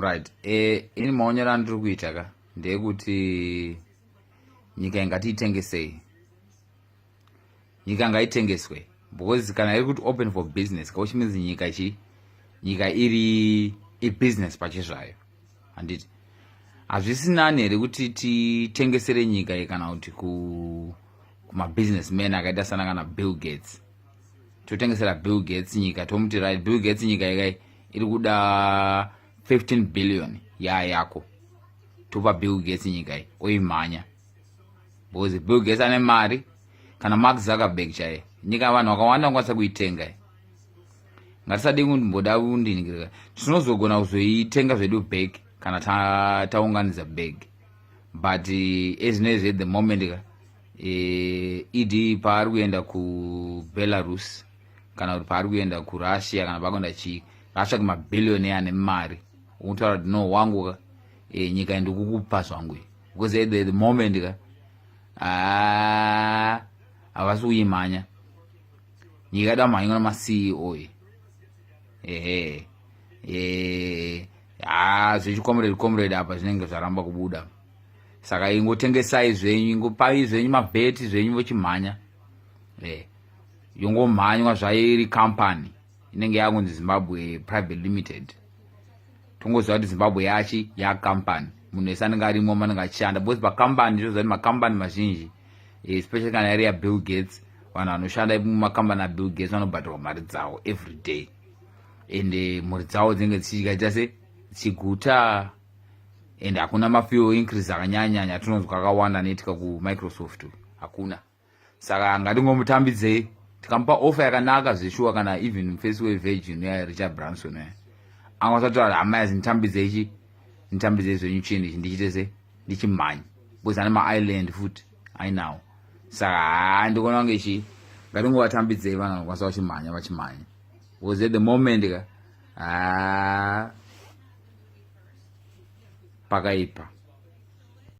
right e, ini maonero andiri kuita ka ndeyekuti nyika ingatiitengesei nyika ngaitengeswe because kana iri kuti open for business ka which means nyika chi nyika iri ibusiness pache zvayo handiti hazvisi nani here kuti titengesere nyika iyi kana kuti kumabusiness man akaita sana kana bill gates totengesera bill gates nyika tomuti right bill gates nyika ikai iri kuda 15 billion yaa yako topa bill gates nyika iyi oimhanya because bill gates ane mari kana mark zuckerberg chaiye nyika yavanhu vakawanda vangakwanisa kuitenga iyi ngatisadii kumboda kundiningirika tinozogona kuzoitenga zvedu bag kana taunganidza bag but eh, ezvinoizvi at the moment ka ed eh, e paari kuenda kubelarus kana kuti paari kuenda kurussia kana pakuenda chii ngaatsvake mabhillioni ane mari ukutaura kuti no wangu ka e, nyika ndikukupa zvangu because at the moment ka ah, havasi kuyimhanya nyika yada mhanywa namaceo e ehe e, ha zvechikomredi komredi apa zvinenge zvaramba kubuda saka ingotengesai zvenyu ingopai zvenyu mabheti zvenyu vochimhanya e. yongomhanywa zvairi company inenge yakunzi zimbabwe private limited tongoziva kuti zimbabwe yachi yacompany munhu wese anenge arimo manenge achishanda because pacompany toziva kuti macompany mazhinji eh, especially kana yari yabill gates vanhu vanoshanda mumacompany abill gates vanobhadharwa mari dzavo every day and eh, mhuri dzavo dzinenge dzichichikaita se chiguta and hakuna mafuel increase akanyanyanya tinonzwa akawanda anoitika kumicrosoft hakuna saka ngatingomutambidzei tikamupa ofa yakanaka zveshuwa kana even face way virgin ya richard branson ya angasatoa hama yazi nditambidzei chi nditambidzei zvenyu chini ichi ndichite se ndichimhanya because ane maisland futi ainawo saka haa ndikuona kunge chii ngatingovatambidzei vana vanokwanisa vachimhanya vachimhanya was at the moment ka haa pakaipa